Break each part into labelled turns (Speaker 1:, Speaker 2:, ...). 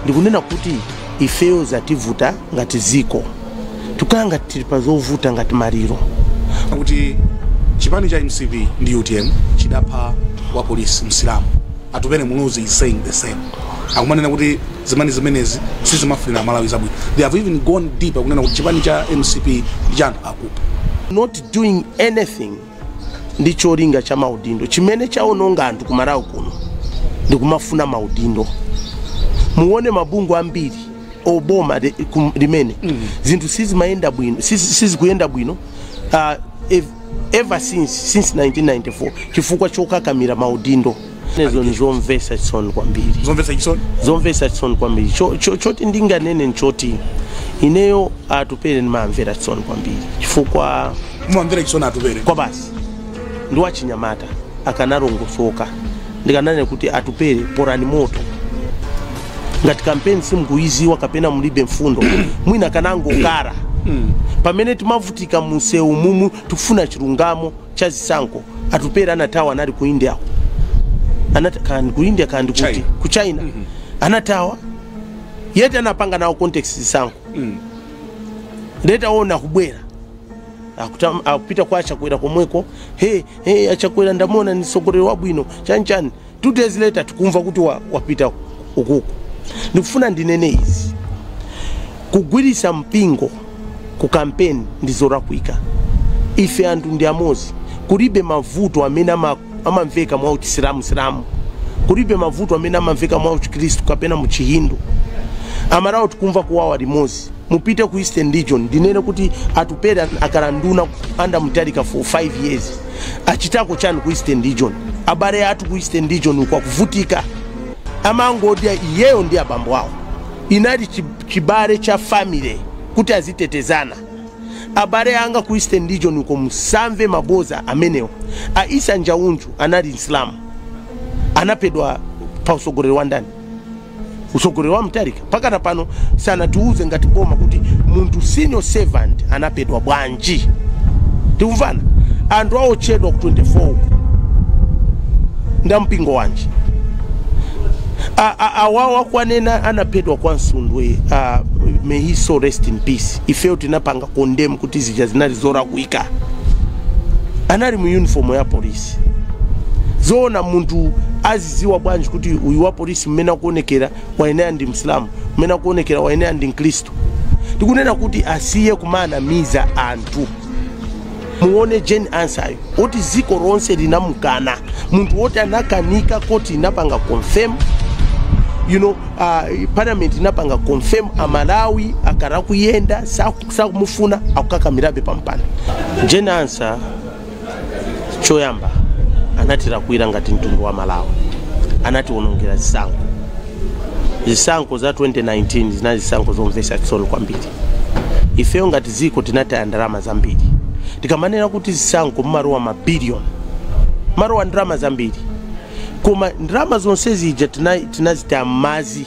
Speaker 1: ndikunena kuti ifeyo zativuta ngati dziko tikukhala ngati tili pa zovuta ngati maliro kuti
Speaker 2: chipani cha mcp ndi utm chidapha wa polisi msilamu atupele muluzi is saying the same akumanena kuti zipani zimenezi sizimafunira amalawi zabwino they have even gone deeper kunena kuti chipani cha mcp ndi cha anthu akupha not doing
Speaker 1: anything ndi cholinga cha maudindo chimene chaononga anthu ku Malawi kuno ndi kumafuna maudindo muone mabungwe ambiri oboma li- kum- limene zinthu sizimayenda bwino sizi- sizikuyenda bwino uh, ev- ever since since 1994 chifukwa chokakamira maudindo zinezo ndizomvetsa chisoni kwambiri zomvetsa chisoni zomvetsa chisoni kwambiri Cho- cho- choti ndinganene nchoti ineyo atupele ndimawamvera chisoni kwambiri chifukwa mumamvera chisoni
Speaker 2: atupele kuti basi
Speaker 1: ndi wachinyamata akanalongosoka ndikananena kuti atupele polani moto ngati kampeni simukuyiziwa kapena mulibe mfundo mwina akanangokhala pamene timavutika munsewu mumu tikufuna chilungamo cha zisankho atupele anathawa anali ku india anati kaya ndi ku india kaya ndi kuti China. ku china mm -hmm. anathawa yet anapanga nawo contest zisankho mm. later on akubwera Akuta- akupita kwa achakwera komweko he he achakwera ndamuona ndi mtsogoleri wabwino chani chani 2 days later tikumva kuti wa, wapita ukuku ndikufuna ndinene izi kugwiritsa mpingo ku kampeni ndi zolakwika ife anthu ndi amodzi kulibe mavuto amene ama- amamveka mwa uchisilamu silamu kulibe mavuto amene amamveka mwa uchikristu kapena muchihindu amalawi tikumva kuwawa limodzi mupite ku eastern region ndinene kuti atupele akhala nduna under mutharika for 5 years achitako chani ku eastern region abale athu ku eastern region uko akuvutika amangodya iyeyo ndi abambo awo inali chi- chibale cha family kuti azitetezana abale anga ku eastern region uko musamve maboza amenewo a isa njaunju anali msilamu anaphedwa pa utsogoleri wa ndani utsogoleri wa mutharika mpakana pano sanatiuze ngati boma kuti munthu civil servant anaphedwa bwanji tikumva anthu aotchedwa ku 24 uku ndi a mpingo wanji A- a- awa akuwanena anaphedwa kwa msundwe uh, may his soul rest in peace ifeyo tinapanga condemn kuti zija zinali zolakwika anali mu uniform ya polisi zoona munthu Adziwa bwanji kuti uyu wa polisi mmene akuonekera wayenera ndi Msilamu, mmene akuonekera wayenera ndi Mkristu? Tikunena kuti asiye kumanamiza anthu. Muone Jane Ansah woti dziko lonse linamukana, munthu woti anakanika koti inapanga confirm you know, uh, parliament inapanga confirm Amalawi akhala akuyenda sakumufuna akukakamirabe pampando Jane Ansah choyamba anatilakwira ngati mtundu wa Malawi anatiwonongera zisankho zisankho za 2019 zinali zisankho zomvesa chisoni kwambiri ifeyo ngati dziko tinataya ndalama zambiri tikamanena kuti zisankho mumalowa mabiliyoni mumalowa ndalama zambiri koma ndalama zonse zija tina- tinazitaya m'madzi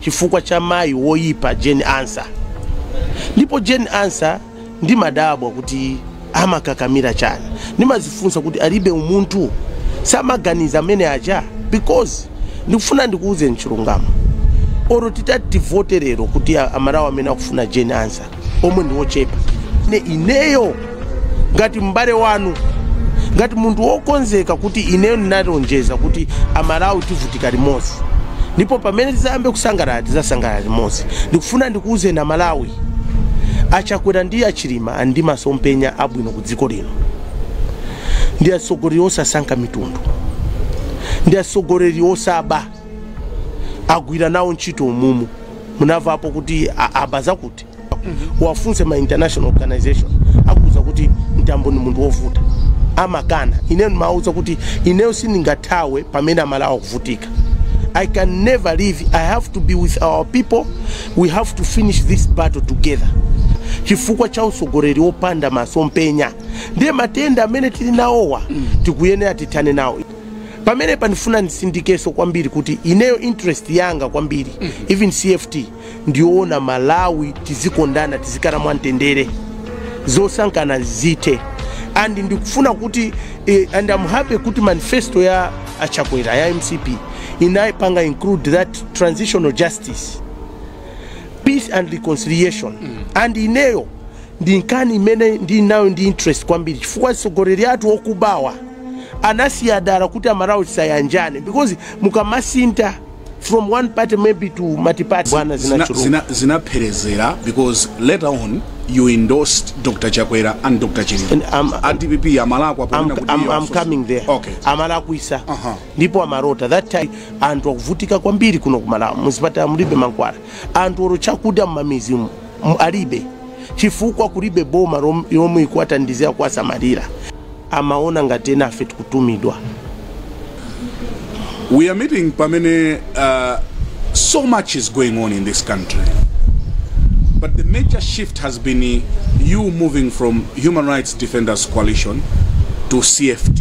Speaker 1: chifukwa cha mayi woyipa Jane Ansah ndipo Jane Ansah ndimadabwa kuti amakakamira chani ndimazifunsa kuti alibe umunthu samaganiza amene aja because ndikufuna ndikuuzeni chilungamo olo titati tivote lero kuti a- Amalawi amene akufuna Jane Ansah omwe ndi ochepa ne ineyo ngati m'bale wanu ngati munthu wokonzeka kuti ineyo ndinalonjeza kuti Amalawi tivutika limodzi ndipo pamene tizayambe kusangalala tizasangalala limodzi ndikufuna ndikuuzeni Amalawi a Chakwera ndi a Chilima ali ndi masomphenya abwino ku dziko lino ndi atsogoleri osasankha mitundu ndi atsogoleri osaba agwira nawo ntchito umumu munavapo kuti a- aba zakuti wafunse ma international organization akuuzani kuti Mtambo ni munthu wovuta amakana ineyo ndimawuza kuti ineyo sindingathawe pamene Amalawi akuvutika I can never leave I have to be with our people We have to finish this battle together chifukwa cha utsogoleri opanda masomphenya ndiye matenda amene tili nawowa tikuyenera tithane nawo pamenepa ndifuna nditsindikenso kwambiri kuti ineyo interest yanga kwambiri even CFT ndi yoona Amalawi tizikondana tizikhala mwamtendere zosankhana zithe and ndikufuna kuti eh, and I'm happy kuti manifesto ya a Chakwera ya MCP inayipanga include that transitional justice justice peace and reconciliation mm. and ineyo ndi nkhani imene ndili nayo ndi interest kwambiri chifukwa atsogoleri athu okubawa anasiya dala kuti Amalawi asayanjane because mukamasintha from one party maybe to multiparty bwana zinachuluka zina,
Speaker 2: zinapherezera because later on you endorsed Dr Chakwera and Dr Chilima And I'm- a DPP amalakwa I'm, ponena kuti I'm, iye I'm wafunsa. coming
Speaker 1: there okay amalakwitsa
Speaker 2: uh-huh.
Speaker 1: ndipo amalota that time anthu akuvutika kwambiri kuno kumalawi muzipatala mulibe mankhwala anthu olo chakudya mmamizi mu- alibe chifukwa kulibe boma rom- yomwe ikuwathandizira kuwasamalira amaona ngati ena a ife tikutumidwa
Speaker 2: we are meeting pamene uh, so much is going on in this country but the major shift has been uh, you moving from human rights defenders coalition to cft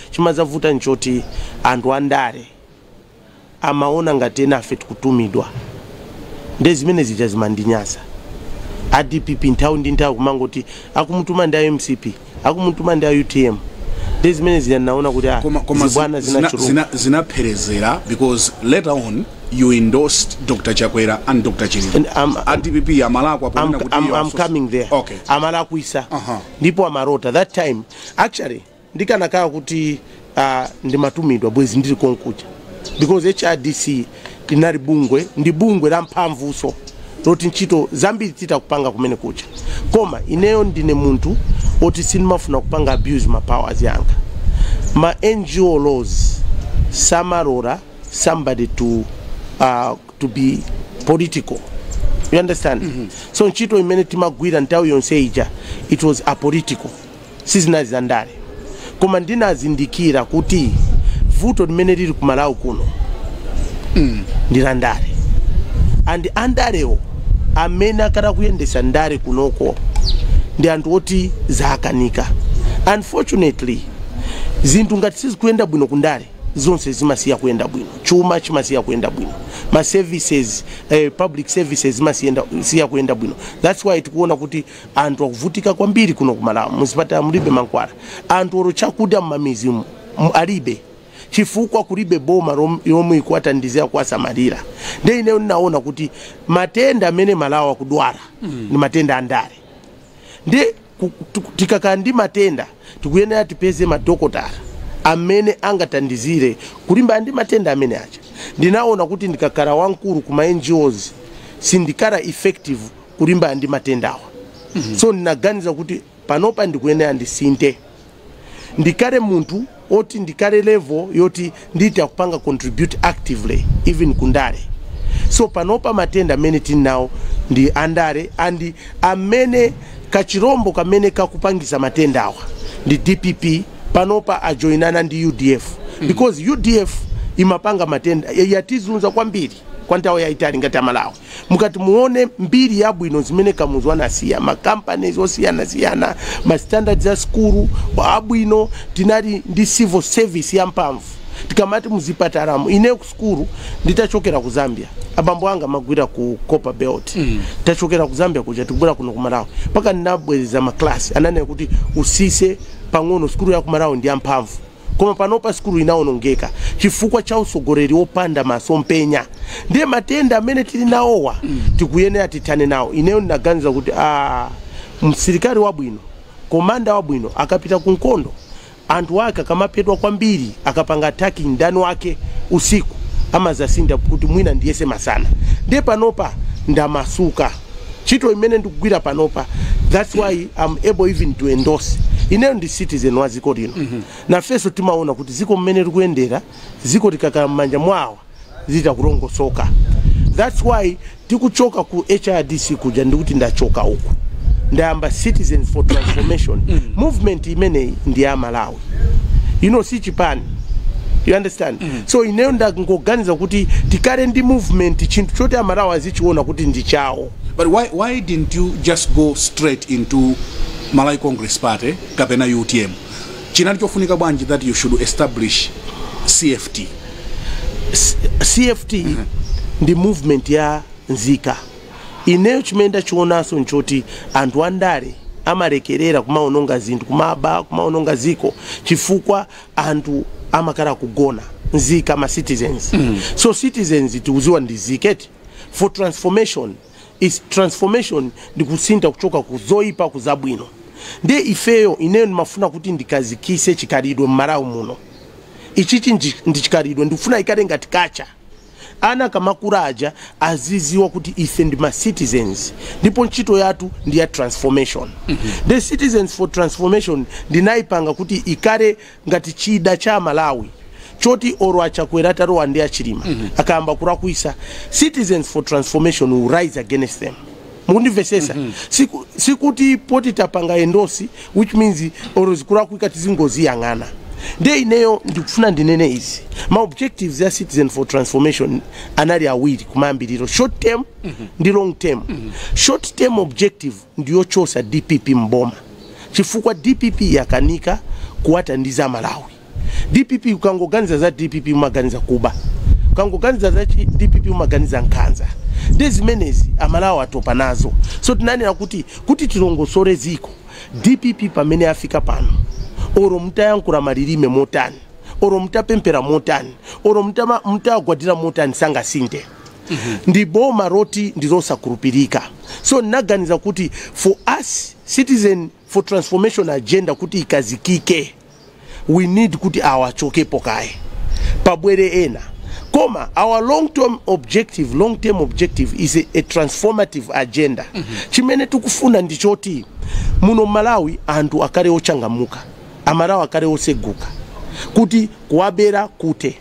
Speaker 1: Chimadzavuta nchoti anthu andale amaona ngati ena a ife tikutumidwa nde zimene zija zimandinyasa. A dpp nthawi ndi nthawi kumangoti akumutuma ndi a mcp, akumutuma ndi a utm nde zimene zija ndinaona kuti ah Koma, koma zi- zibwana zina, zinachuluka. zina,
Speaker 2: zinapherezera because later on you endorsed Dr. Chakwera and Dr. Chilima. And I'm- a DPP amalakwa I'm, ponena kuti I'm, iwo I'm asosi- coming
Speaker 1: there. Okay. Amalakwisa. Uh-huh. Ndipo amalota. That time, actually, ndikanakhala kuti uh, ndimatumidwa bwezi ndili konkuja because hrdc linali bungwe ndi bungwe la mphamvuso loti ntchito zambiri titha kupanga kumene kuja koma ineyo ndine munthu oti sindimafuna kupanga abuse ma powers yanga ma ngo laws samalora somebody to uh, to be political you understand mm -hmm. so ntchito imene timagwira nthawi yonse ija it was apolitical sizinali za ndale koma ndinazindikira kuti vuto limene lili ku malawi kuno ndi la ndale and andalewo amene akhala kuyendesa ndale kunoko ndi anthu oti zawakanika unfortunately zinthu ngati sizikuyenda bwino kundale zonse zimasiya kuyenda bwino chuma chimasiya kuyenda bwino ma services eh, public services zimasiyenda siya kuyenda bwino that's why tikuona kuti Anthu akuvutika kwambiri kuno ku Malawi, muzipatala mulibe mankhwala, anthu olo chakudya mmamizi umu alibe chifukwa kulibe boma yomwe ikuwathandizira kuwasamalira. Nde ineyo ndinaona kuti matenda amene Malawi akudwala mm. ndi matenda andale nde tikakhala ndi matenda tikuyenera tipeze madokotala amene angathandizire kulimbana ndi matenda amene aja. Ndinaona kuti ndikakhala wamkulu kuma NGOs sindikhala effective kulimbana ndi matendawa so ndinaganiza kuti panopa ndikuyenera ndisinthe ndikhale munthu oti ndikhale level yoti nditha kupanga contribute actively even kundale so panopa matenda amene tili nawo ndi andale and amene kachirombo kamene kakupangisa matendawa ndi dpp panopa ajoinana ndi udf because udf imapanga matenda yatizunza kwambiri kwa nthawi yayitali ngati amalawi mukati muone mbiri yabwino zimene kamuzu anasiya ma companies osiyanasiyana ma standards a skulu abwino tinali ndi civil service yamphamvu tikamati muzipatalamu ine ku skulu nditachokera ku zambia abambo anga amagwira ku copper belt mm. tachokera ku zambia kuja tikubwera kuno ku malawi mpaka ndinabwereza maklasi ananena kuti usise pang'ono skulu ya ku malawi ndi yamphamvu Koma panopa sukulu inawonongeka chifukwa cha utsogoleri opanda maso mpenya ndiye matenda amene tili nawowa tikuyenera tithane nawo. Ineyo ndinaganiza kuti aah msilikali wabwino komanda wabwino akapita ku nkhondo anthu ake akamaphedwa kwambiri akapanga attack mdani wake usiku amadzasintha kuti mwina ndiyese masana ndiye panopa ndamasuka. ntchito imene ndikugwira panopa that's why I'm able even to endorse ineyo ndi citizen wa dziko lino mm -hmm. nafenso timaona kuti dziko mmene likuyendera dziko likakhala mmanja mwawo zitakulongosoka that's why tikuchoka ku hrdc kuja ndikuti ndachoka uku ndayamba citizens for transformation mm -hmm. movement imeneyi ndi ya amalawi you know si chipani you understand mm. so ineyo ndangoganiza kuti tikale ndi movement chinthu choti amalawi azichiona kuti ndi chawo but why, why
Speaker 2: didn't you just go straight into malawi congress party kapena utm chinali chofunika bwanji that you should establish cft
Speaker 1: cft ndi movement ya nzika Ineyo chimene ndachionanso n'choti anthu andale amalekerera kumawononga zinthu, kumaba, kumawononga dziko chifukwa anthu amakhala kugona, nzika, ma citizens. So citizens tikudziwa ndi nzika eti? For transformation, it's transformation ndi kusintha kuchoka ku zoipa ku zabwino. Ndiye ifeyo, ineyo ndimafuna kuti ndikhazikitse chikhalidwe m'Malawi muno. Ichichi ndi chikhalidwe ndikufuna ikhale ngati culture. Ana akamakura aja aziziwa kuti ife ndi ma citizens ndipo ntchito yatu ndi ya transformation mm -hmm. Nde citizens for transformation ndinaipanga kuti ikare ngati chida cha Amalawi choti oro a Chakwera atalowa ndi a Chilima mm -hmm. akayamba kurakwisa citizens for transformation will rise against them Mukundimvetsetsa? mm -hmm. Siku, sikuti poti tapanga endorse which means oro zikulakwika tizingoziyang'ana nde ineyo ndikufuna ndinene izi ma objectives ya citizen for transformation anali awiri kumayambiliro short term mm -hmm. ndi long term mm -hmm. short term objective ndiyochosa dpp mboma chifukwa dpp yakanika kuwathandiza amalawi dpp ukangoganiza za dpp umaganiza kuba ukangoganiza za chi- dpp umaganiza nkhanza nde zimenezi amalawi atopa nazo so tinanena kuti kuti tilongosole ziko dpp pamene afika pano oro mutayankhula malilime motani oro mutapempera motani oro mutama- mutagwadira motani sangasinte ndi boma roti ndi losakhulupirika so ndinaganiza kuti for us citizen for transformation agenda kuti ikazikike we need kuti awa achokepo kaye pabwere ena koma our long term objective long term objective is a, a transformative agenda mm -hmm. chimene tikufuna ndi choti muno malawi anthu akale ochangamuka amalawi akale oseguka kuti kuwabera kute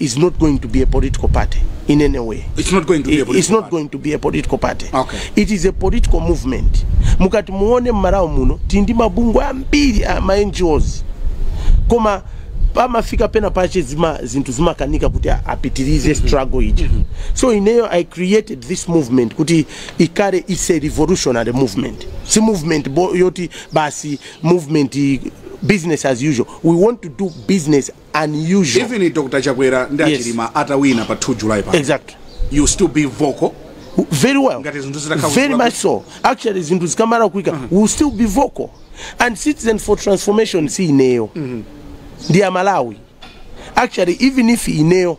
Speaker 1: is not going to be a political party in any way. It's not going to be a political
Speaker 2: It's not party. going to be a
Speaker 1: political party. Okay. It is a
Speaker 2: political
Speaker 1: movement. Mukati muone mmarawo muno tindi mabungwe ambiri a ma NGOs. Koma pamafika pena pache zima zinthu zimakanika kuti a- apitirize struggle ija. So ineyo I created this movement kuti ikare is a revolutionary movement. Si movement bo, yoti basi movement i- business as usual. We want to do business unusual even Dr
Speaker 2: Chakwera ndi Yes. a Chilima atawina pa 2 July pa exactly you still
Speaker 1: be
Speaker 2: vocal very well
Speaker 1: Ngati zinthu zitakhala very kukula- much so actually zinthu zikamalakwika we will still be vocal and citizen for transformation si ineyo ndi amalawi actually even if ineyo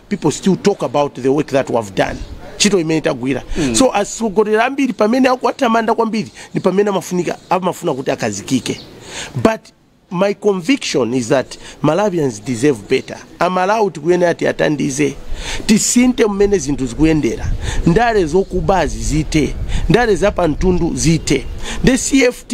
Speaker 1: people still talk about the work that we have done ntchito imene tagwira mm. so atsogoleri ambiri pamene akuwatamanda kwambiri ndi pamene amafunika amafuna kuti akazikike but my conviction is that malawians deserve better amalawi tikuyenera tiwatandize tisinte mmene zinthu zikuyendera ndale zokubazi zite ndale zapamtundu zite the cft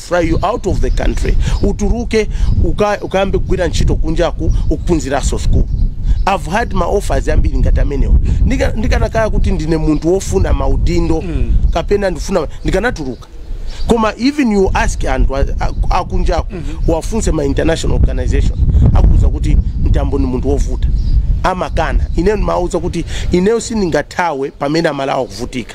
Speaker 1: fly you out of the country uturuke uka, ukayambe kugwira ntchito kunjaku ukaphunzirenso school I've had ma offers ambiri ngati amenewo Ndika- ndikanakhala kuti ndine munthu wofuna maudindo mm. kapena ndifuna ndikanatuluka koma even you ask anthu a- a- akunjaku mm -hmm. wafunse ma international organization akuuza kuti mtambo ni munthu wovuta amakana ineyo ndimawauza kuti ineyo sindingathawe pamene amalawi akuvutika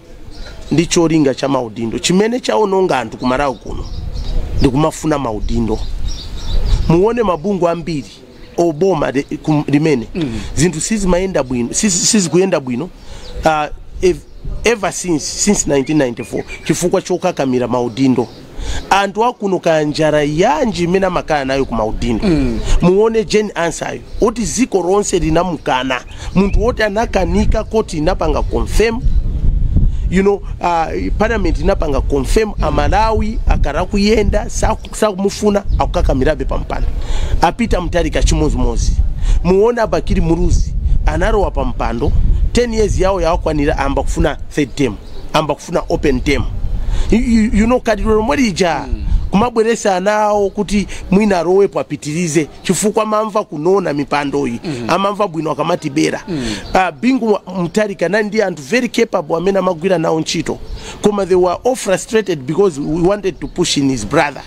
Speaker 1: ndi cholinga cha maudindo chimene chaononga anthu ku Malawi kuno ndi kumafuna maudindo muone mabungwe ambiri oboma m'mene zinthu sizimayenda bwino sizi- sizikuyenda bwino uh, ev- ever since since 1994 chifukwa chokakamira maudindo anthu akuno kaya njara yanji imene amakala nayo ku maudindo mm. muone Jane Ansah yo oti ziko lonse linamukana munthu woti anakanidwa koti inapanga confirm you know uh, parliament inapanga confirm amalawi akara kuyenda saku- sakumufuna akukakamirabe pampando a Peter Mutharika chimozimozi muone a Bakili Muluzi anarowa pampando 10 years yawo yakwanira ayamba kufuna third term ayamba kufuna open term you, you, you know khalidwe lomwe lija kumabweresa ana awo kuti mwina arowepo apitirize chifukwa amamva kunona mipandoyi amamva bwino akamatibera. Ah, bingu Mwa- mutharika anali ndi anthu very capable amene amagwira nawo ntchito koma they were all frustrated because he wanted to push in his brother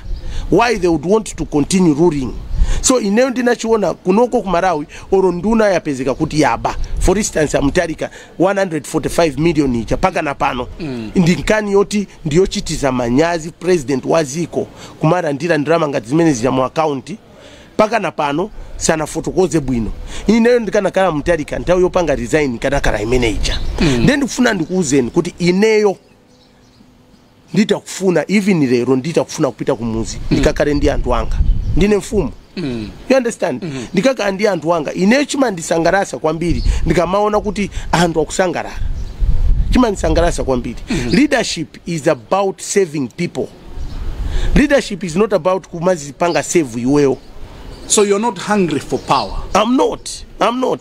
Speaker 1: why they would want to continue ruling so ineyo ndinachiona kunoko ku malawi oro nduna yapezeka kuti yaba for instance a Mutharika 145 million ija mpakana pano mm. ndi nkhani yoti ndiyochititsa manyazi president wa dziko kumarandira ndirama ngati zimene zija mu account mpakana pano sanafotokoze bwino ineyo ndikanakhala Mutharika nthawi yopanga resign ikadakhala imene ija mm. ndiye ndikufuna ndikuuzeni kuti ineyo nditakufuna even lero nditakufuna kupita kumudzi ndikakhale ndi anthu anga ndine mfumu you understand ndikakhala ndi anthu anga ineyo chimandisangalatsa kwambiri ndikamaona kuti anthu akusangalala chimandisangalatsa kwambiri leadership is about serving people leadership is not about kumadzipanga serve iweyo so you're not
Speaker 2: hungry for power i'm not i'm
Speaker 1: not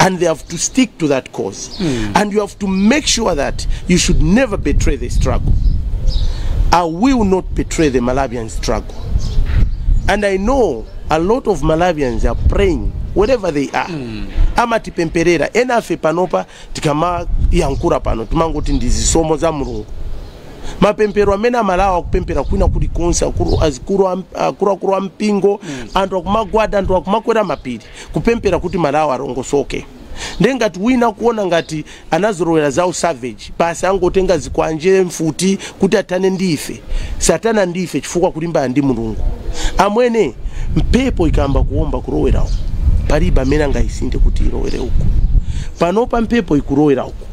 Speaker 1: and they have to stick to that cause mm. and you have to make sure that you should never betray the struggle i will not betray the malawian struggle and i know a lot of malawians are praying wherever they are mm. amatipempherera enafe panopa tikamayankhula pano timangoti ndi zisomo za mulungu mapemphero amene amalawi akupemphera kwina kuli konse akuru akuru ampingo mm. anthu akumagwada anthu akumakwera mapiri kupemphera kuti malawi alongosoke nde ngati wina akuona ngati anazolowera za usavage basi angotenga zikwanje mfuti kuti athane ndi ife sathana ndi ife chifukwa akulimbana ndi mulungu amwene mphepo ikayamba kuomba kurowera uku palibe amene angayisinthe kuti irowere uku panopa mphepo ikurowera uku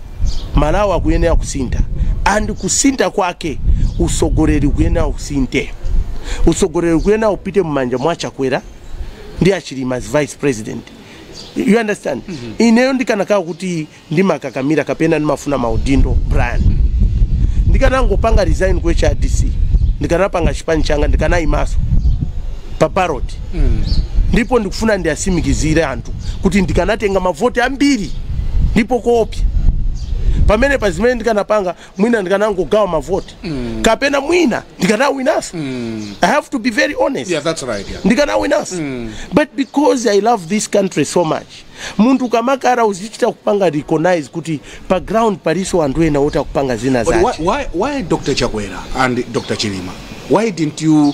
Speaker 1: malawi akuyenera kusintha and kusintha kwake utsogoleri ukuyenera usinthe utsogoleri ukuyenera upite mumanja mwa chakwera ndi achilima as vice president you understand mm -hmm. ineyo ndikanakhala kuti ndimakakamira kapena ndimafuna maudindo brian ndikanangopanga resign ku hrdc ndikanapanga chipani changa ndikanayimanso pa ballot mm. ndipo ndikufuna ndiwatsimikizire anthu kuti ndikanatenga mavoti ambiri ndipo koopsya pamene pa zimene ndikanapanga mwina ndikanangogawa mavoti mm. kapena mwina ndikanawinanso mm. i have to be very honest yeah, that's right, yeah.
Speaker 2: ndikanawinanso mm.
Speaker 1: but because i love this country so much munthu ukamakhala uzichita kupanga recognize kuti pa ground palinso anthu ena oti akupanga zina But why, zake why, why Dr.
Speaker 2: Chakwera and Dr. Chilima? Why didn't you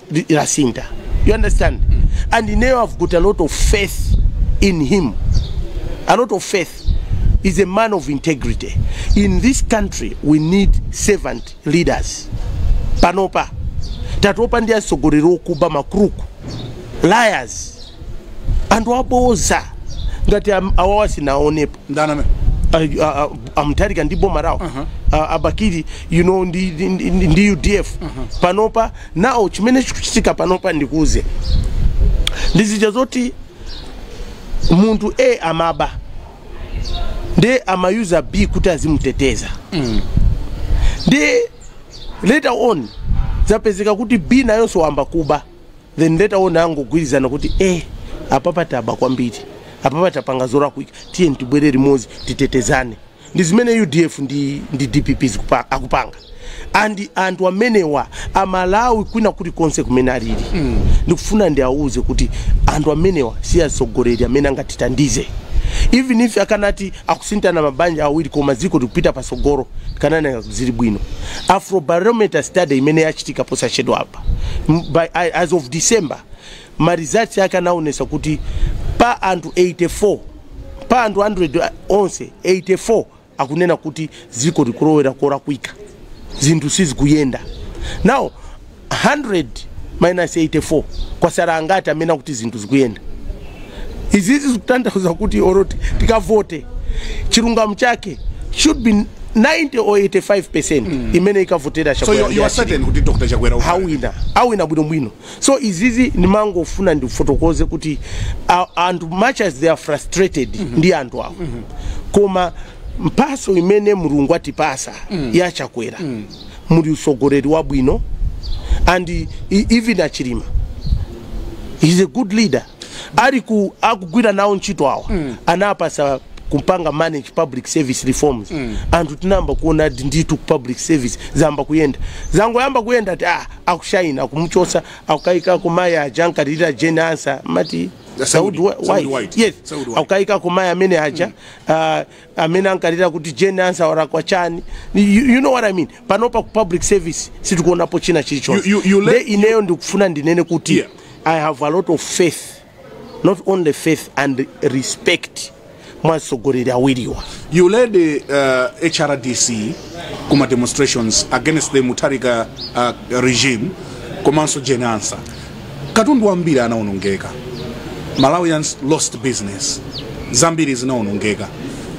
Speaker 1: lasintha you understand and now i've got a lot of faith in him a lot of faith he's a man of integrity in this country we need servant leaders panopa tatopa ndi atsogoleri okuba makuruku liars anthu aboza ngati am- awawa sinaonepo ndani amene
Speaker 2: uh, uh,
Speaker 1: a Mutharika ndi boma lawo uh, a Bakili you know ndi, ndi, ndi, ndi udf panopa Now chimene chikuchitika panopa ndikuuze ndi zija zoti munthu a amaba ndiye amayuza b kuti azimuteteza ndiye later on zapezeka kuti b nayonso wayamba kuba then later on angogwirizana kuti a apapa taba kwambiri apapa tapanga zolakwika tiye tibwere limodzi titetezane ndi zimene udf ndi, ndi dpp zikupa- akupanga and anthu amenewa amalawi kwina kulikonse kumene alili ndikufuna ndiawuze kuti anthu amenewa si atsogoleri amene angatithandize even if akanati akusinthana mabanja awiri koma dziko likupita patsogolo kanakhala zili bwino afrobarometer study imene yachitika posachedwa apa m- by, I- as of december Ma results ake anaonesa kuti pa anthu 84 pa anthu 100 onse 84 akunena kuti dziko likulowera kolakwika zinthu sizikuyenda now 100 minus 84 kwasala angati amene akuti zinthu zikuyenda izizi zikutanthauza kuti olo ti- tikavote chilungamo chake should be 90 or 85 percent imene ikavotera chakwera so you, you are certain kuti dr
Speaker 2: chakwera awina awina
Speaker 1: bwinobwino so izizi ndimangofuna ndifotokoze kuti a- anthu much as they are frustrated ndi anthu awo koma mphatso imene mulungu atipasa ya chakwera muli utsogoleri wabwino and e- even a Chilima he's a good leader Ali ku akugwira nawo ntchito awa mm. anapatsa kupanga manage public service reforms mm. anthu tinayamba kuona ati ndithu ku public service zayamba kuyenda zangoyamba kuyenda ati ah, akushaina akumuchotsa akukayikako mayi aja ankalilira Jane Ansah mumati Seodi, Seodi, Seodi White. White. Yes. Seodi White. Akukaikako mayi amene aja mm. uh, amene ankalira kuti Jane Ansah walakwa chani you, you know what I mean panopa ku public service sitikuonapo china chilichonse You- you- you let- Nde ineyo ndikufuna ndinene kuti Yeah. I have a lot of faith not only faith and respect mwa atsogoleri
Speaker 2: awiriwa You led the uh, HRDC kuma demonstrations against the Mutharika uh, regime komanso Jane Ansah. katundu wambiri anaonongeka malawians lost business zambiri zinaonongeka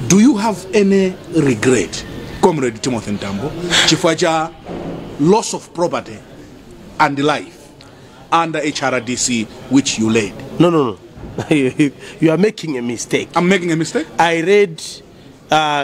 Speaker 2: do you have any regret comrade timothy mtambo chifukwa cha loss of property and life under hrdc which you led no no no
Speaker 1: you are making a mistake i'm making a mistake
Speaker 2: i read
Speaker 1: uh,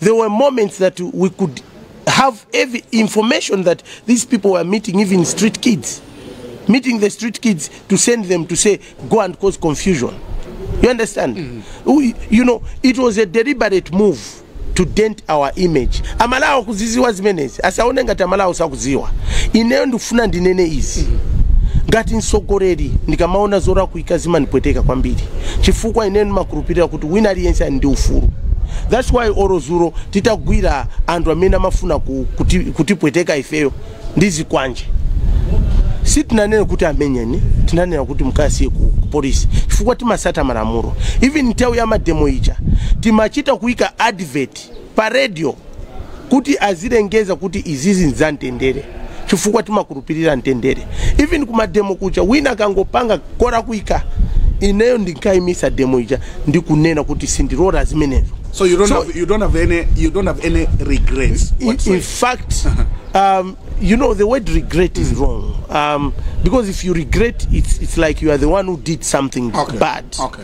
Speaker 1: There were moments that we could have every information that these people were meeting even street kids, meeting the street kids to send them to say, go and cause confusion. You understand? Mm -hmm. we, you know, it was a deliberate move to dent our image amalawi akuziziwa zimenezi asaone ngati amalawi sakuziwa ineyo ndikufuna ndinene izi ngati mtsogoleri ndikamaona zola kwika zimandipweteka kwambiri chifukwa ine ndimakhulupirira kuti wina aliyense ali ndi ufulu that's why olo zulo titagwira anthu amene amafuna ku- kuti- kutipweteka ifeyo ndi zikwanje sitinanena kuti amenyeni tinanena kuti mukasiye ku ku polisi chifukwa timasata malamulo even nthawi ya mademo ija timachita kuika advert pa radio kuti azilengeza kuti izizi nzamtendere chifukwa timakhulupirira mtendere even kumademo kuja wina akangopanga kolakwika ineyo ndinkaimisa demo ija ndikunena kuti sindilola zimenezo So you don't So- have
Speaker 2: you don't have any you don't have any regrets. in,
Speaker 1: in whatsoever. fact um, you know the word regret is wrong um, because if you regret it's, it's like you are the one who did something Okay. bad Okay.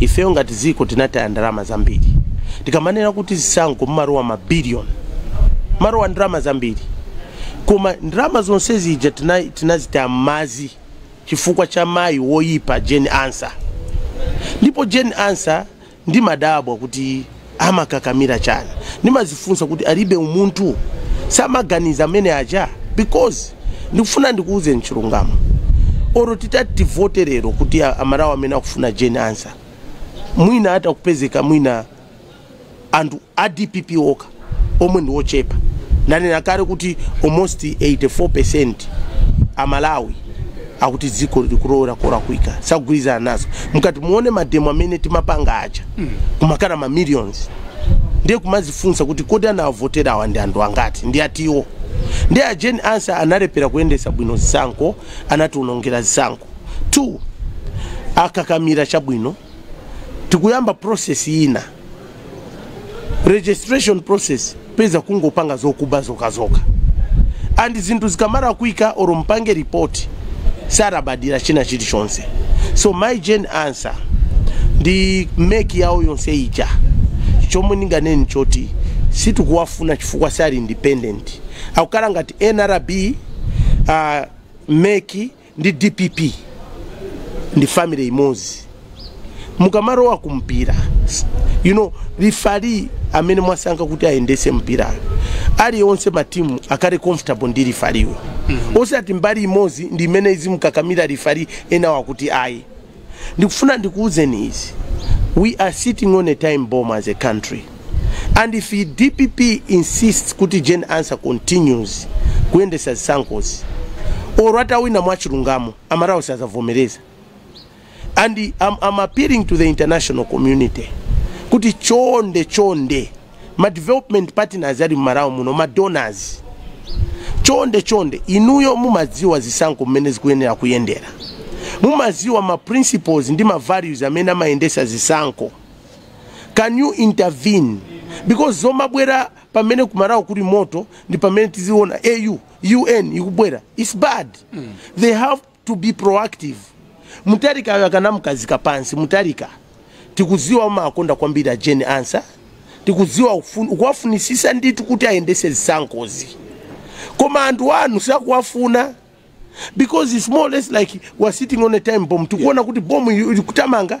Speaker 1: ifeyo ngati dziko tinataya ndalama zambiri tikamanena kuti zisankho mumalowa mabiliyoni mumalowa ndalama zambiri koma ndalama zonse zija tina- tinazitaya mmadzi chifukwa cha mayi woyipa jane ansah ndipo jane ansah ndimadabwa kuti amakakamira chani ndimazifunsa kuti alibe umunthu samaganiza amene aja because ndikufuna ndikuwuzeni chilungamo olo titati tivote lero kuti a- amalawi amene akufuna jane ansah mwina atakupezeka mwina anthu a dpp okha omwe ndi ochepa ndanena kale kuti almost 84 percent amalawi akuti dziko likulowera kolakwika sakugwirizana nazo mukati muone mademo amene timapanga aja kumakhala ma millions ndiye kumazifunsa kuti kodi anawavotera awa ndi anthu angati ndi atiwo ndiye a Jane Ansah analephera kuyendesa bwino zisankho anatiwonongera zisankho two akakamira chabwino tikuyamba process ina registration process mpeza kungopanga zokuba zokazoka and zinthu zikamalakwika olo mpange report salabadira china chilichonse so mayi jane ansah ndi MEC yawo yonse ija chomwe ndinganene nchoti sitikuwafuna chifukwa sali independent akukhala ngati nrb uh, MEC ndi dpp ndi family imodzi mukamalowa ku mpira you know rifari amene mwasankha kuti ayendese mpira uja onse matimu akhale comfortable ndi rifariyo osati mbali imodzi ndi imene izimkakamira rifari enawa kuti ayi Ndikufuna ndikuuzeni izi we are sitting on a time bomb as a country and if dpp insists kuti Jane Ansah continues kuyendesa zisankhozi or atawina mwachilungamo aMalawi sazavomereza and I'm, I'm appealing to the international community kuti chonde chonde ma development partners ali mMalawi muno ma donors chonde chonde inuyo mumadziwa zisankho mmene zikuyenera kuyendera mumadziwa ma principles ndi ma values amene amayendesa zisankho can you intervene because zomabwera pamene kuMalawi kuli moto ndi pamene tiziona au un ikubwera its bad mm. they have to be proactive Mutharikayo akanamukhazika pansi Mutharika tikudziwa umakonda kwambiri a Jane Ansah tikudziwa ukufun- ukuwafunisisa ndithu kuti ayendese zisankhozi koma anthu anu sakuwafuna because it's more or less like we're sitting on a time bomb tikuona kuti bomb likuthamanga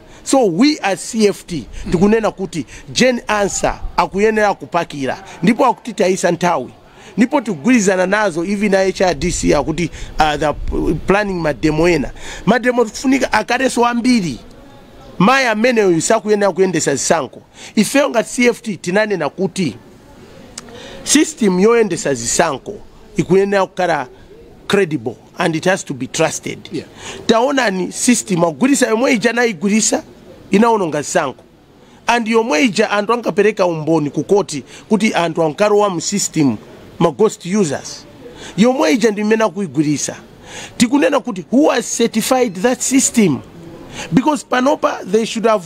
Speaker 1: So we as CFT tikunena kuti Jane Ansah akuyenera kupakira ndipo akutitayisa nthawi ndipo tikugwirizana nazo even a HRDC akuti uh, they are planning mademo ena mademo tikufunika akhaleso ambiri mayi ameneyu sakuyenera kuyendesa zisankho ifeyo ngati CFT tinanena kuti system yoyendesa zisankho ikuyenera kukhala credible and it has to be trusted yeah. taonani system akugwirisa yomwe ija anayigwirisa inaononga zisankho and yomwe ija anthu ankapereka umboni ku koti kuti anthu ankalowa mu system ma ghost users yomwe ija ndi imene akuyigwirisa tikunena kuti who has certified that system because panopa they should have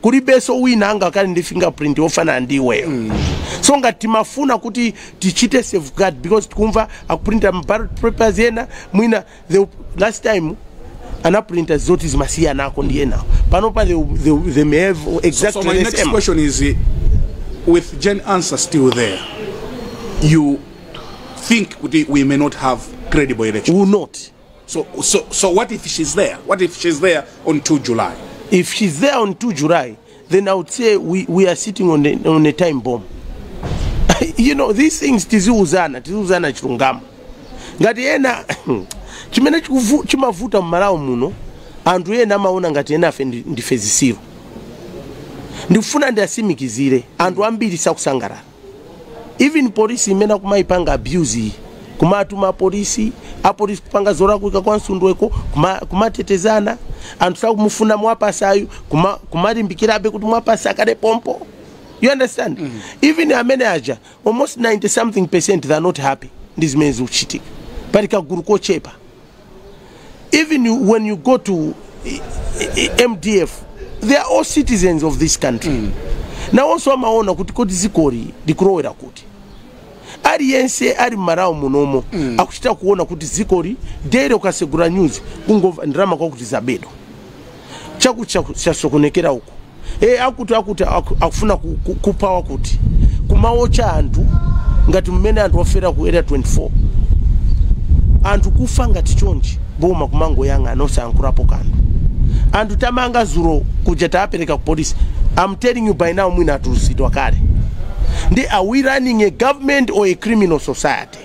Speaker 1: kulibeso wina angakhale ndi fingerprint yofanana ndi iweyo so ngati timafuna kuti tichite safeguard because tikumva akuprinta ma ballot papers ena mwina the last time anaprinta zoti zimasiyanako ndi enawo panopa they, they, they may have So exactly my the next same
Speaker 2: question is, uh, with Jane Ansah still there, you think kuti we may not have credible election? will not
Speaker 1: So, so,
Speaker 2: so what if she's there? What if she's there on 2 July? If she's there
Speaker 1: on 2 July, then I would say we, we are sitting on, the, on a time bomb. you know, these things tiziuzana, tiziuzana chilungamo. Ngati ena chimene chikuvu- chimavuta mMalawi muno anthu ena amaona ngati enafe ndi- ndife zisiru ndikufuna ndiasimikizire anthu ambiri sakusangalala even polisi imene akumayipanga abuse iyi kumatuma apolisi apolisi kupanga zolakwika kwa Msundweko kuma- kumatetezana anthu sakumufuna Mwapasayu kuma- kumalimbikirabe kuti Mwapasa akhale pompo you understand even amene aja almost 90 something percent they are not happy ndi zimene zikuchitika pali kagulu kochepa even when you go to eh, eh, eh, mdf they are all citizens of this country mm. nawonso amaona kuti kodi dzikoli likulowera kuti aliyense ali mMalawi munomo mm. akuchita kuona kuti dzikoli dere ukasegura news kungomva ndalama kwakuti zabedwa chakuti chaku- chasokonekera uko e, akuti akuti aku- akufuna ku- ku- kupha wakuti kumawocha anthu ngati mmene anthu afera ku area 24 anthu kufa ngati chonchi boma kumangoyang'ana osayankhulapo kanthu anthu tamanga dzulo kuja tapereka ku polisi I'm telling you by now mwina atulutsidwa kale ndi are we running a government or a criminal society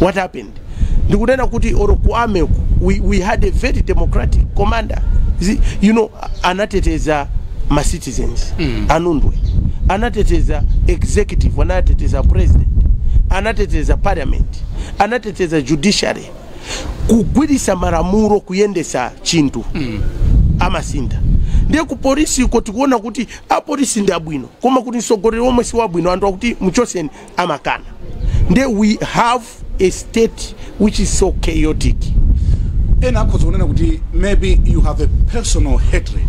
Speaker 1: what happened ndikunena kuti or ku army uko, we, we had a very democratic commander You see, you know anateteza ma citizens mm. a Nundwe anateteza executive anateteza president anateteza parliament anateteza judiciary kugwiritsa malamulo kuyendesa chinthu mm. amasinda ndiye ku polisi uko tikuona kuti apolisi ndi abwino koma kuti mtsogoleri omwe si wabwino anthu akuti mchoseni amakana nde we have a state which is so chaotic
Speaker 2: ena akhoza kunena kuti maybe you have a personal hatred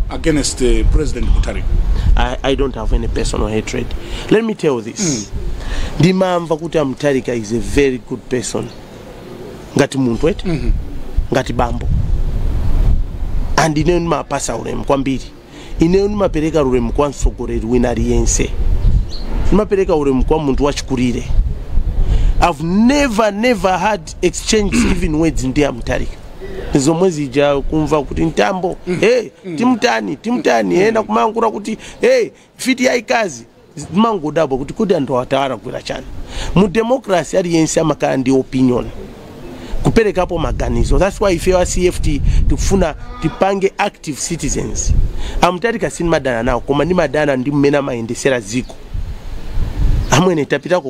Speaker 2: against uh, president mutarika I, I don't
Speaker 1: have any personal hatred. Let me tell you this. Ndimamva kuti a Mutarika is a very good person. Ngati munthu eti? Ngati bambo. And ine ndimawapatsa ulemu kwambiri. Ineyo ndimapereka ulemu kwa mtsogoleri wina aliyense, ndimapereka ulemu kwa munthu wachikulire. I've never never had exchange even words ndi a Mutarika zomwe zija kumva kuti mtambo hey, timtani timtani ena kumayankhula kuti hey, fiti yaikazi ndimangodabwa kuti kodi anthu awa tawalakwira chani mu democracy aliyense amakhala ndi opinion kuperekapo maganizo that's why ifeyo a cft tikufuna tipange active citizens a Mutarika sinimadana nawo koma ndimadana ndi mmene amayendesera dziko amwene tapitako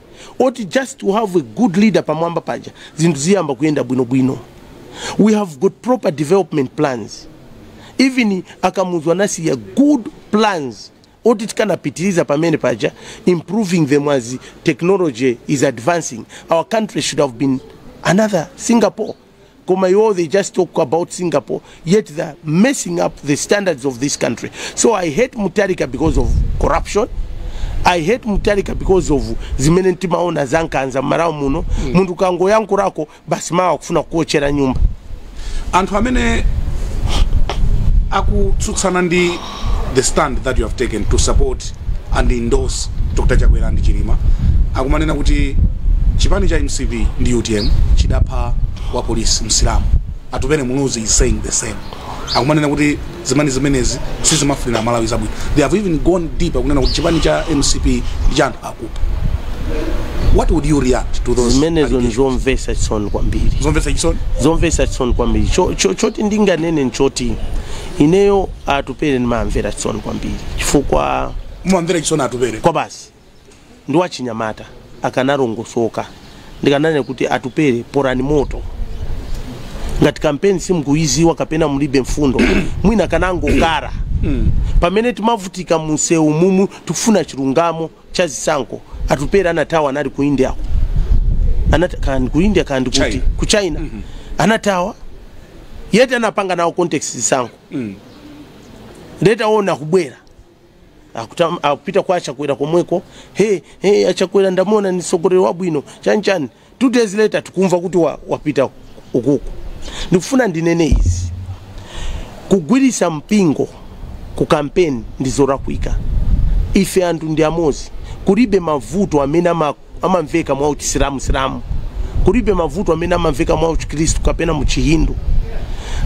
Speaker 1: oti just to have a good leader pamwamba paja zinthu ziyamba kuyenda bwinobwino we have got proper development plans even a Kamuzu anasiya good plans oti tikanapitiriza pamene paja improving them as technology is advancing our country should have been another singapore koma iwo they just talk about singapore yet they're messing up the standards of this country so i hate mutarika because of corruption i hate mutarika because of zimene timaona zankanza mMalawi muno mm. munthu kungoyankhulako basi mawa akufuna kuwochera nyumba anthu
Speaker 2: amene akutsutsana ndi the stand that you have taken to support and endorse dr chakwera ndi chilima akumanena kuti chipani cha mcp ndi utm chidapha wa polisi msilamu atupele muluzi is saying the same akumanena kuti zipani zimenezi sizimafunira malawi zabwino they have even gone deeper kunena kuti chipani cha mcp ndi cha anthu akupha what would you react to those allegations? zimenezo ni zomvesa
Speaker 1: chisoni kwambiri zomvetsa chisoni
Speaker 2: zomvesa chisoni
Speaker 1: kwambiri choti ndinganene nchoti ineyo atupele ndimamvera chisoni kwambiri chifukwa mumamvera
Speaker 2: chisoni atupele kwabasi
Speaker 1: ndi wachinyamata akanalongosoka ndikananena kuti atupele polani moto ngati kampeni simukuyiziwa kapena mulibe mfundo mwina akanangokhala pamene timavutika mumsewu mumu tikufuna chilungamo cha zisankho atupele anathawa anali ku india kandi ku india kandi kuti ku china anathawa yeti anapanga nawo contest zisankho later waona akubwera akupita kwa achakwera komweko he he achakwera ndamona ni msogoleri wabwino chanichani two days later tikumva kuti wa- wapita ukuku ndikufuna ndinene izi kugwirisa mpingo ku kampeni ndi zolakwika ife anthu ndi amodzi kulibe mavuto amene ama amamveka mwa uchisilamu kulibe mavuto amene amamveka mwa uchikristu kapena mu chihindu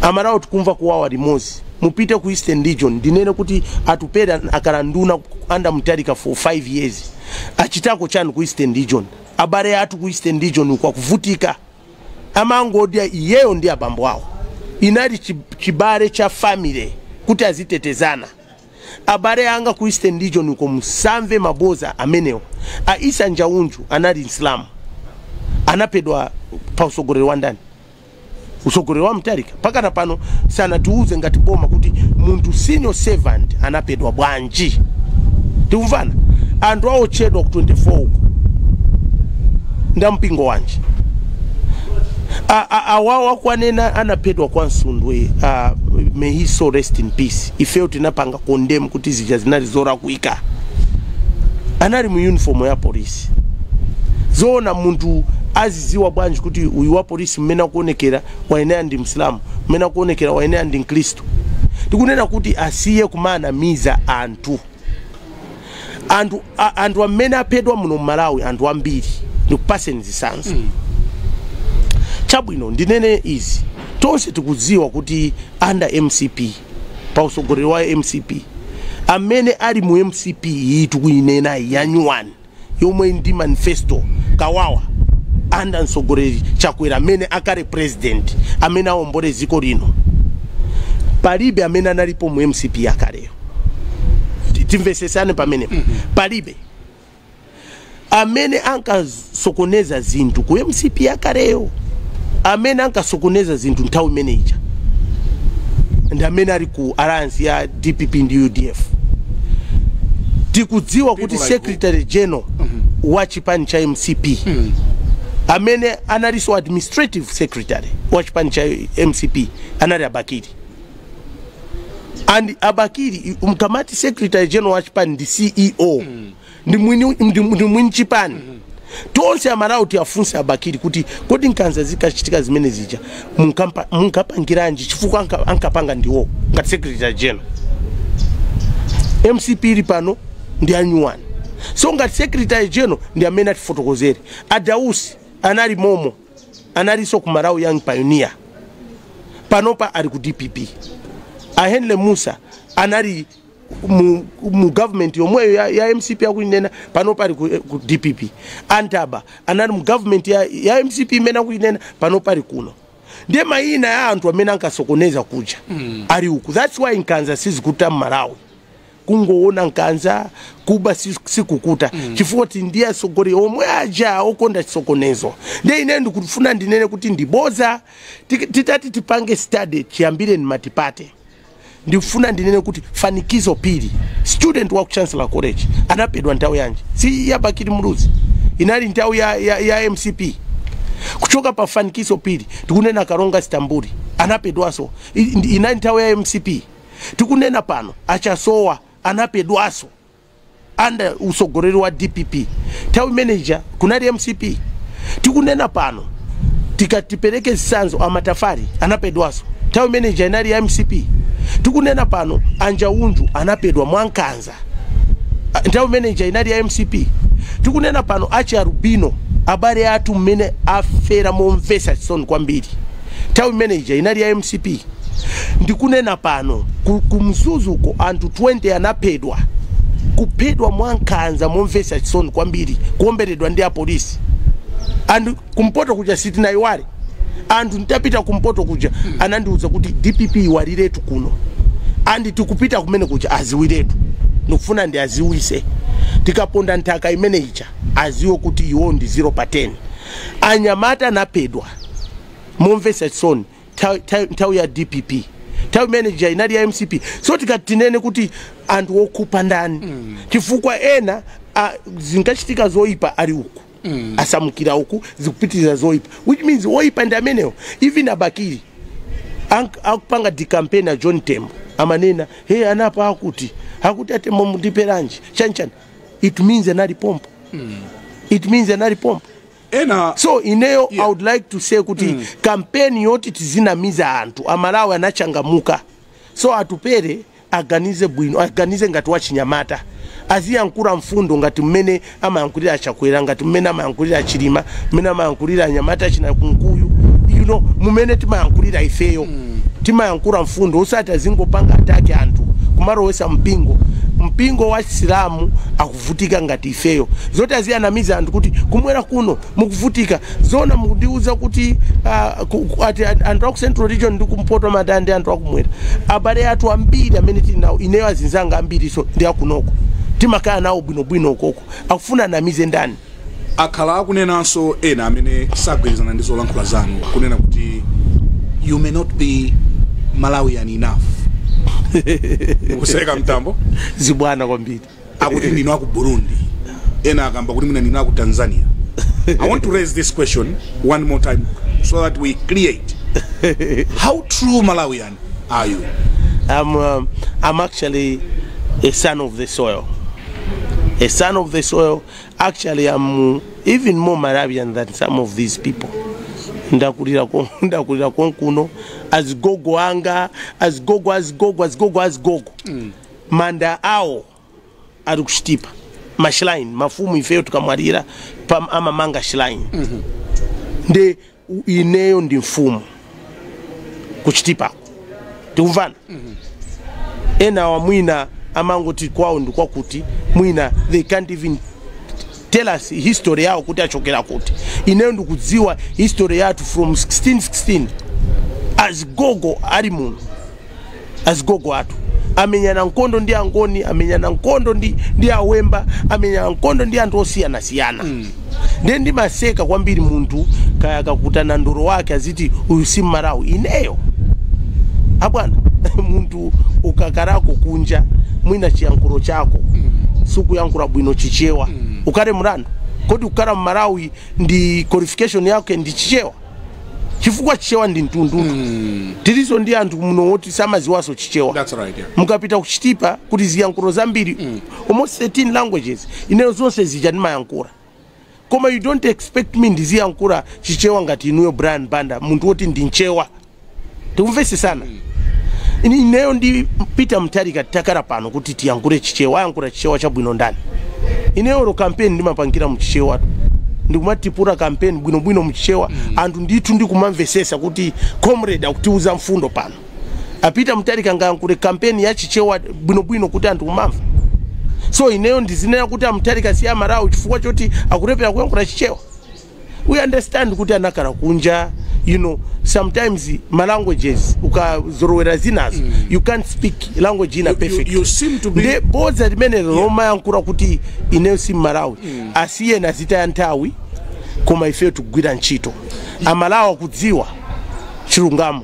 Speaker 1: amalawi tikumva kuwawa limodzi mupite ku eastern region ndinene kuti atupele akhala nduna under mutharika for 5 years achitako chani ku eastern region abale athu ku eastern region uko akuvutika amangodya iyeyo ndi abambo awo inali chi- chibale cha family kuti azitetezana Abale anga ku Eastern region uko musamve maboza amenewo. A Isa Njaunju anali Msilamu. Anapedwa pa usogoleri wa ndani? Usogoleri wa Mutharika. Pakana pano sanatiuze ngati boma kuti munthu civil servant anapedwa bwanji. Tikumvana? Anthu aotchedwa ku 24 uko. Nda mpingo wanji? Awa akuwanena anapedwa kwa Msundwe. Uh, may his soul rest in peace. ifeyo tinapanga condemn kuti zija zinali zorakwika anali mu uniform ya polisi zoona munthu aziziwa bwanji kuti uyu wa polisi mmene akuonekera wayenera ndi msilamu mmene akuonekera wayenera ndi mkristu tikunena kuti asiye kumanamiza anthu anthu a- anthu amene aphedwa muno mmalawi anthu ambiri ndikupaseni chisanzo chabwino ndinene izi tonse tikudziwa kuti under mcp pa utsogoleri wa mcp amene ali mu mcp iyi tikuinenayi yanyuwani yomwe ili ndi manifesto kawawa under mtsogoleri chakwera amene akhale president amene aombole dziko lino palibe amene analipo mu mcp yakaleyo Ti- timvesesane pamene palibe amene ankasokoneza zinthu ku mcp yakaleyo amene ankasokoneza zinthu nthawi imene ija ndi amene ali ku alliance ya dpp ndi udf tikudziwa kuti like secretary general wa chipani cha mcp amene analinso administrative secretary wa chipani cha mcp anali a Bakili and a Bakili mkamati secretary general wa chipani ndi ceo ndi mwini ndi- ndi mwini chipani tonse amalawi tiwafunse a Bakili kuti kodi nkanza zinkachitika zimene zija munkampa- munkapangiranji chifukwa anka- ankapanga ndiwo ngati secretary general mcp ili pano ndi anyuwani so ngati secretary general ndi amene atifotokozere a Dausi anali momo analinso ku malawi young pioneer panopa ali ku dpp a henry musa anali mu, mu government yomweyo ya, ya mcp akuinenayo panopa ali ku, ku dpp a Ntaba anali mu government ya, ya mcp imene akuinena panopa ali kuno ndiye mayina ya anthu amene ankasokoneza kuja mm. ali uku thats why nkhanza sizikuta mmalawi kungowona nkhanza kuba si- sikukuta chifukwa choti ndi atsogoleri omwe aja okonda chisokonezo nde ine ndikufuna ndinene kuti ndiboza Tik- titati tipange study chiyambireni matipate ndikufuna ndinene kuti fanikiso phiri student wa ku chancellor college anapedwa nthawi yanji si ya bakili muluzi inali nthawi ya, ya, ya mcp kuchoka pa fanikiso phiri tikunena kalonga stambuli anapedwanso I- ndi- inali nthawi ya mcp tikunena pano a Chasowa anapedwaso under usogoleli wa dpp thawi imene ija kunali mcp tikunena pano tikati tipeleke zisanzo a Matafale anapedwaso thawi imene ija inali ya mcp tikunena pano a Njaunju anapedwa mwankanza Ah, nthawi imene ija inali ya mcp tikunena pano achialubino abale athu mmene afera momvesa chisoni kwambiri nthawi imene ija inali ya mcp ndikunena pano ku- kumzuzuko anthu 20 anaphedwa kuphedwa mwankhanza momvesa chisoni kwambiri kuomberedwa ndi apolisi and kumpoto kuja sanayiwale anthu ntapita kumpoto kuja anandiwuza kuti dpp iwaliretu kuno andi tikupita kumene kuja aziwiretu ndikufuna ndiwaziwise tikaponda nthaka imene ija aziwe kuti iwo ndi 0 pa 10 anyamata anapedwa momvesa chisoni nthawi- nthawi nthawi ya dpp nthawi imene ija inali ya mcp so tikati tinene kuti anthu okupha ndani chifukwa ena ah, zinkachitika zoyipa ali uku mm. asamukira uku zikupitiriza zoipa which means woipa ndi amenewo even a Bakili akupanga campaign na John tembo amanena eee anapha akuti akuti atembo mundipheranji chanichani it means anali pompo mm. it means anali pompo so ineyo yeah. i would like to say kuti mm. kampeni yoti tizinamiza anthu amalawi anachangamuka so Atupele Aganize bwino, aganize ngati wachinyamata, aziyankhula mfundo ngati mmene amayankhulira a Chakwera, ngati mmene amayankhulira a Chilima, mmene amayankhulira anyamata achina Kunkuyu, you know, mmene timayankhulira ifeyo. Timayankhula mfundo osati azingopanga attack anthu kumalowesa mpingo. Mpingo wa Chisilamu akuvutika ngati ifeyo. Zoti aziyanamiza anthu kuti kumwera kuno mukuvutika zoona mukundiuza kuti ah, ku- ku- ati an- anthu aku central region ndi kumpoto amadana ndi anthu akumwera abale athu ambiri amene tili nawo ineyo azinzanga ambiriso ndi akunoko timakhala nawo bwinobwino ukoko akufuna anamize ndani
Speaker 2: akhala akunenanso ena amene sagwirizana ndi zolankhula zanu kunena kuti you may not be malawian enough kuseka Mtambo zibwana kwambiri
Speaker 1: akuti ndinu
Speaker 2: aku burundi ena akamba kuti mwina ndinu aku tanzania i want to raise this question one more time so that we clear how true malawian are you I'm,
Speaker 1: um, I'm actually a son of the soil. A son of the soil. Actually, I'm even more Malawian than some of these people. ndakulira kon- ndakulira konkuno azigogo anga azigogo azigogo azigogo azigogo manda awo ali kuchitipa ma shrine mafumu ifeyo tikamwalira pam- amamanga shrine ndiye ineyo ndi mfumu kuchitipa tikumvana enawa mwina amangoti kwawo ndi kwakuti mwina they can't even tell us history yawo kuti anachokera kuti ineyo ndikudziwa history yathu from 1616 azigogo ali muno azigogo athu amenyana nkondo ndi angoni amenyana nkondo ndi, ndi awemba amenyana nkondo ndi anthu osiyanasiyana mm. ndiye ndimaseka kwambiri munthu kaya akukutuma ndolo wake aziti uyu si mmalawi ineyo abwana munthu ukakhalako kunja mwina chiyankhulo chako sukuyankhula bwino chichewa ukhale mlandu kodi kukhala mmalawi ndiye qualification yake ndi chichewa chifukwa chichewa ndi mtundu tiliso ndi anthu muno woti samaziwaso chichewa That's right, yeah. mukapita
Speaker 2: kuchitipa
Speaker 1: kuli ziyankhulo zambiri almost 13 languages ineyo zonse zija ndimayankhula koma you don't expect me ndiziyankhula chichewa ngati inuyo brian banda munthu woti ndi mchewa tikumvesesana Ini- ineyo ndi peter mutharika takhala pano kuti tiyankhule chichewa ayankhula chichewa chabwino ndani ineyo olo kampeni ndimapangira muchichewa ndikumatipura kampeni bwinobwino muchichewa anthu ndithu ndikumamvesesa kuti comrade akutiuza mfundo pano a peter mutharika angayankhule kampeni ya chichewa bwinobwino kuti anthu kumamva so ineyo ndizinena kuti amutharika si amalawi chifukwa choti akulephera kuyankhula chichewa we understand kuti anakhala kunja you know sometimes ma languages ukazorowera zinazo you can't speak language ina You- you- perfect you seem to be-
Speaker 2: nde bodza
Speaker 1: limenelo lomayankhula kuti ineyo si mmalawi asiyeni azitaya nthawi koma ifeyo tikugwira ntchito amalawi akudziwa chilungamo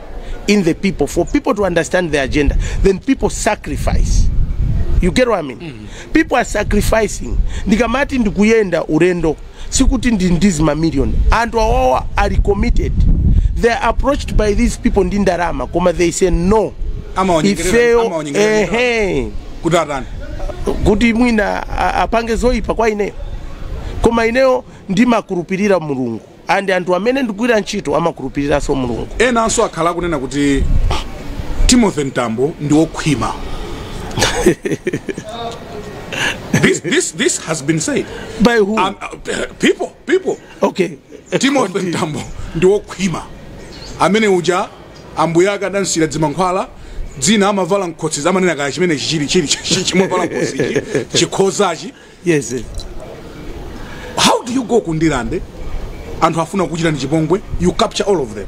Speaker 1: in the people for people to understand the agenda then people sacrifice you get what I mean mm. people are sacrificing ndikamati ndikuyenda ulendo sikuti ndi ndi zimamillion anthu awawa ali committed they are approached by these people ndi ndalama koma they say no Amawanyengerera- ifeyo amawanyengerera ehe kuti atani kuti mwina a- apange zoyipa kwa ineyo koma ineyo ndimakhulupirira mulungu And anthu amene ndikugwira ntchito amakhulupiliranso Mulungu. Enanso akhala
Speaker 2: akunena kuti Timothy Mtambo ndi wokhwima. this, this, this has been said. By who? Um, uh, people, people.
Speaker 1: Okay. Timothy
Speaker 2: Mtambo ndi wokhwima. Amene uja ambuye ake adamusiyira dzimankhwala dzina amavala mkhosi akumanena kaya chimene chichili chili chimene amavala mkhosi chikhozachi
Speaker 1: Yes.
Speaker 2: eh. How do you go ku Ndirande? Anthu afuna kukuchitani chipongwe, you capture all of them.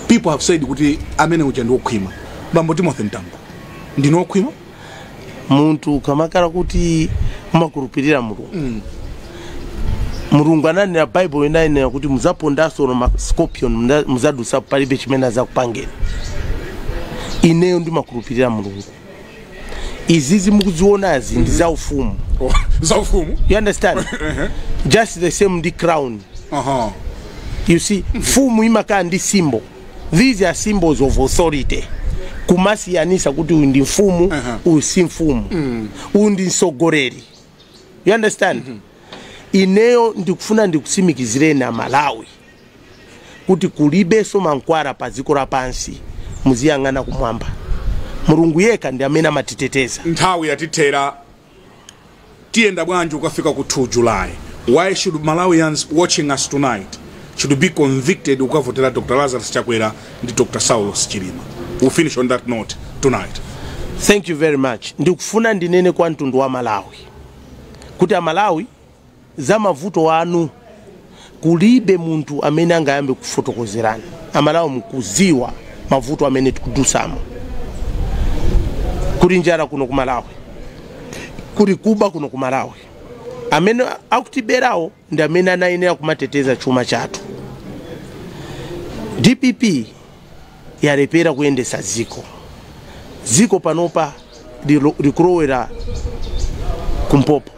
Speaker 2: People have said kuti amene uja ndi wokhwima. Bambo Timothy Mtambo. Ndinu wokhwima?
Speaker 1: munthu ukamakhala kuti umakhulupirira mulungu mulungu ananena baibulo inanena kuti muzapondanso na mascorpion muza- muzadusapo palibe chimene azakupangeni ineyo ndimakhulupirira mulungu izizi mukuzionazi ndi za ufumu Oh, za
Speaker 2: ufumu you
Speaker 1: understand just the same ndi crown aha you see mfumu imakhala ndi symbol these are symbols of authority kumasiyanisa kuti uyu ndi mfumu Uh-huh. uyu si mfumu uyu ndi mtsogoleri you understand ineyo ndikufuna ndikusimikizireni amalawi kuti kulibenso mankhwala pa dziko lapansi muziyang'ana kumwamba mulungu yekha ndi amene amatiteteza nthawi yatithera
Speaker 2: tiyenda bwanji tikafika ku 2 july why should malawians watching us tonight should be convicted kukavotera dr lazarus chakwera ndi dr saulos chilima we'll finish on that note tonight thank you very
Speaker 1: much ndikufuna ndinene kwa mtundu wa malawi kuti amalawi Za mavuto anu kulibe munthu amene angayambe kufotokozerani. Amalawi mukuziwa mavuto amene tikudusamo. Kuli njala kuno ku Malawi. Kuli kuba kuno ku Malawi. Amene akutiberawo ndi amene anayenera kumateteza chuma chathu. Dpp yalepera kuyendesa dziko. Dziko panopa likulowerera kumpopo.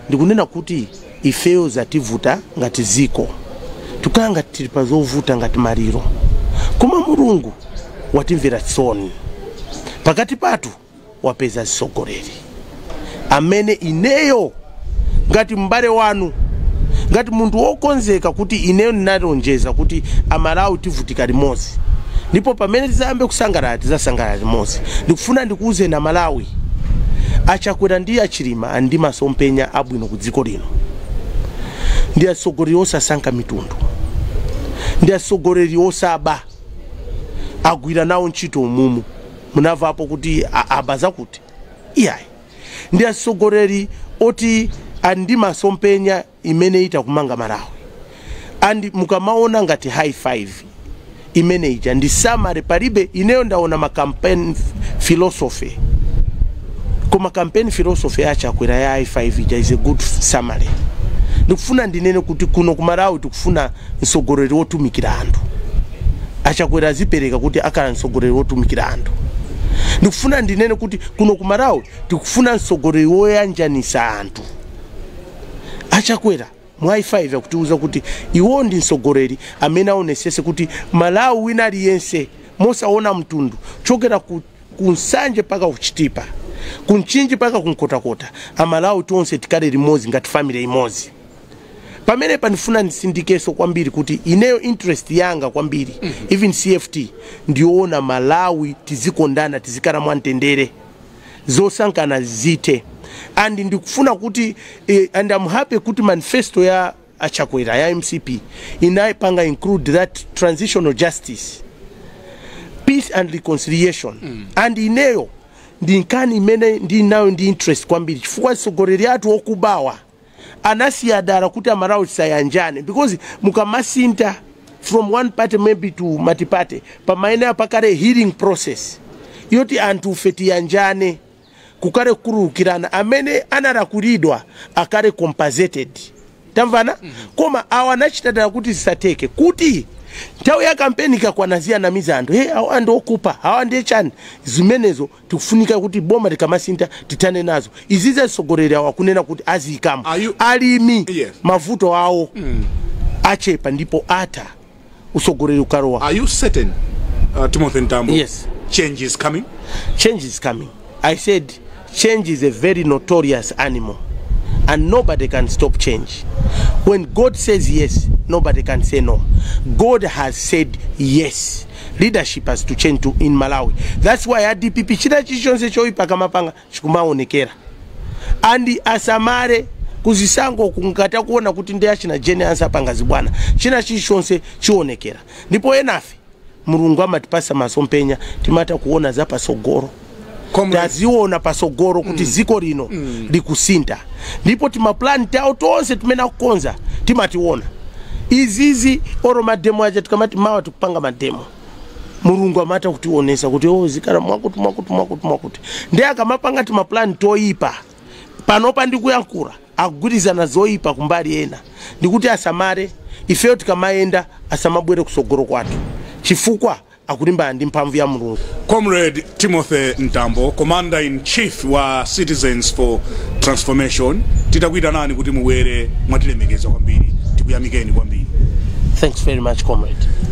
Speaker 1: ndikunena kuti ifeyo zativuta ngati dziko tikhala ngati tili pa zovuta ngati maliro koma mulungu watimvera tsoni pakati pathu wapeza mtsogoleri amene ineyo ngati m'bale wanu ngati munthu wokonzeka kuti ineyo ndinalonjeza kuti amalawi tivutika limodzi ndipo pamene tizayambe kusangalala tizasangalala limodzi ndikufuna ndikuwuzeni amalawi achakwera ndi achi Chilima ali ndi masomphenya abwino ku dziko lino. Ndi atsogoleri osasankha mitundu, ndi atsogoleri osaba, agwira nawo ntchito umumu. Munavapo kuti a- aba zakuti? Iyayi, ndi atsogoleri oti ali ndi masomphenya imene itakumanga malawi and mukamaona ngati high five imene ija ndi summary palibe ineyo ndaona ma campaign philosophy koma campaign philosophy ya achakwera ya high five ija is a good summary ndikufuna ndinene kuti kuno kumalawi tikufuna mtsogoleri wotumikira anthu achakwera azipereka kuti akhala mtsogoleri wotumikira anthu ndikufuna ndinene kuti kuno kumalawi tikufuna mtsogoleri woyanjanisa anthu A Chakwera mu high five akutiuza kuti iwo ndi mtsogoleri amene aonesese kuti Malawi wina aliyense mosaona mtundu kuchokera ku Nsanje mpaka ku Chitipa, ku Mchinji mpaka ku Nkhotakota a Malawi tonse tikhale limodzi ngati family imodzi. Pamenepa ndifuna ndisindikeso kwambiri kuti ineyo interest yanga kwambiri even CFT ndiyoona Malawi tizikondana tizikhala mwamtendere. zosankhana zithe and ndikufuna kuti eh, and I'm happy kuti manifesto ya achakwera ya mcp inayipanga include that transitional justice peace and reconciliation mm. and ineyo ndi nkhani imene ndinayo ndi interest kwambiri chifukwa atsogoleri athu okubawa anasiya dala kuti amalawi tisayanjane because mukamasintha from one party maybe to multiparty pamayenera pakhale healing process yoti anthufe tiyanjane kukhale kukhululukirana amene analakwilidwa akhale compensated tamvana koma awa anachita dala kuti zisatheke kuti nthawi ya kampeni ikakwana aziwanamiza anthu hey, awa ndi okupa awa ndi chani zimenezo tikufunika kuti boma likamasintha tithane nazo izizi atsogoleri awo akunena kuti aziyikamo Are you- alimi Yes. mavuto awo achepa ndipo atha utsogoleri ukalowa Are you certain,
Speaker 2: uh, Timothy Mtambo? Yes. Change
Speaker 1: is
Speaker 2: coming. change is
Speaker 1: coming i said change is a very notorious animal and nobody can stop change when god says yes nobody can say no god has said yes Leadership has to change to in Malawi that's why a dpp china chilichonse choipa akamapanga chikumaonekera and asamale kuzisankho kungatha kuona kuti ndi achina Jane Ansah apanga zibwana china chilichonse chionekera ndipo enafe mulungu amatipasa masomphenya timatha kuona za patsogolo Comrade. taziona patsogolo kuti dziko lino likusintha ndipo timapulani tawo tonse timene akukonza timationa izizi olo mademo aja tikamati mawa tikupanga mademo mulungu amatha kutionetsa kuti o zikhala mwakuti mwakuti mwakuti mwakuti nde akamapanga timapulani toyipa panopa ndikuyankhula akugwirizana zoyipa kumbali ena ndikuti asamale ifeyo tikamayenda asamabwere kutsogolo kwathu chifukwa akulimbana ndi mphamvu ya Mulungu. Comrade
Speaker 2: Timothy Mtambo, Commander in Chief wa Citizens for Transformation, titakuitanani kuti mubwere mwatilemekeza
Speaker 1: kwambiri,
Speaker 2: tikuyamikeni
Speaker 1: kwambiri.
Speaker 2: Thanks very much,
Speaker 1: comrade.